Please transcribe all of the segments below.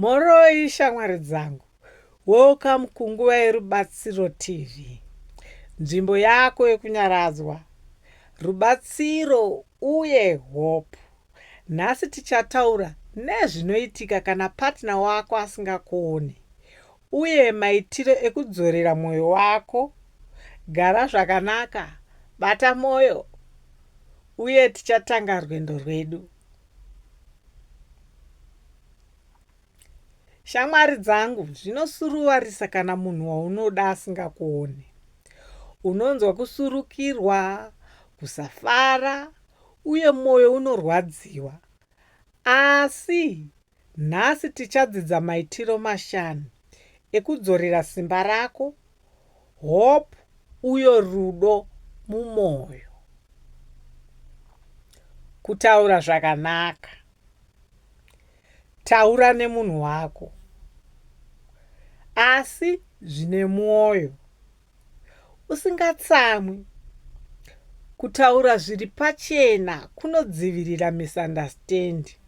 Mhoroi shamwari dzangu, welcome kunguva yerubatsiro TV, nzvimbo yako yekunyaradzwa, rubatsiro uye hope. Nhasi tichataura nezvinoitika kana partner wako asingakuoni uye maitiro ekudzorera mwoyo wako. Gara zvakanaka, bata mwoyo uye tichatanga rwendo rwedu. Shamwari dzangu, zvinosuruvarisa kana munhu waunoda asingakuone. Unonzwa kusurukirwa, kusafara, uye mwoyo unorwadziwa. Asi nhasi tichadzidza maitiro mashanu ekudzorera simba rako hope uyo rudo mumoyo kutaura zvakanaka taura nemunhu wako asi zvine mwoyo usingatsamwi kutaura zviri pachena kunodzivirira misunderstanding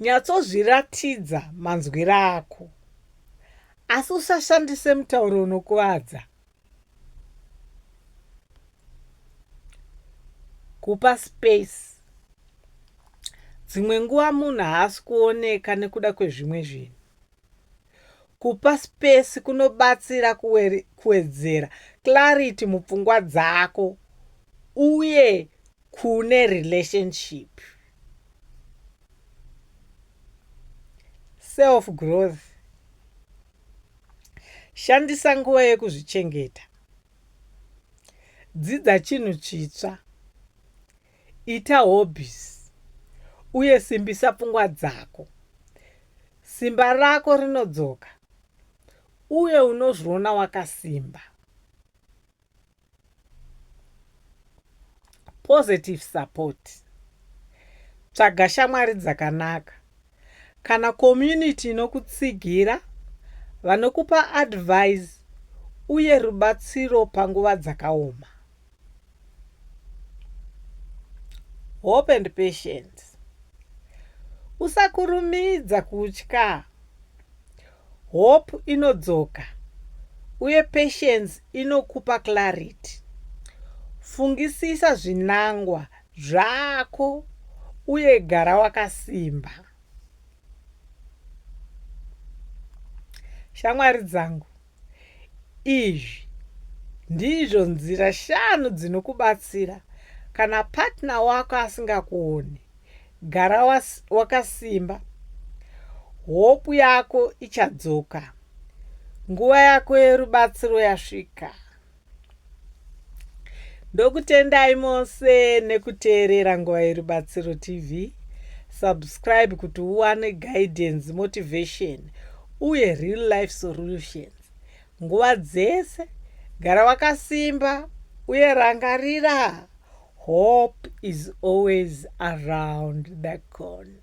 Nyatsozviratidza manzwiro ako, asi usashandise mutauro unokuvadza. Kupa space. Dzimwe nguva munhu haasi kuoneka nekuda kwezvimwe zvinhu. Kupa space kunobatsira kuwedzera clarity mupfungwa dzako uye kune relationship. Self growth. Shandisa nguva yekuzvichengeta. Dzidza chinhu chitsva. Ita hobbies uye simbisa pfungwa dzako. Simba rako rinodzoka uye unozviona wakasimba. Positive support. Tsvaga shamwari dzakanaka Kana community inokutsigira, vanokupa advise uye rubatsiro panguva dzakaoma. Hope and patience. Usakurumidza kutya. Hope inodzoka uye patience inokupa clarity. Fungisisa zvinangwa Zvako uye gara wakasimba. Shamwari dzangu, izvi ndizvo nzira shanu dzinokubatsira kana partner wako asingakuoni. Gara wakasimba. Was, hopu yako ichadzoka nguva yako yerubatsiro yasvika ndokutendai mose nekuteerera nguva yerubatsiro tv subscribe kuti uwane guidance motivation uye real life solutions nguva dzese gara wakasimba uye rangarira hope is always around the corner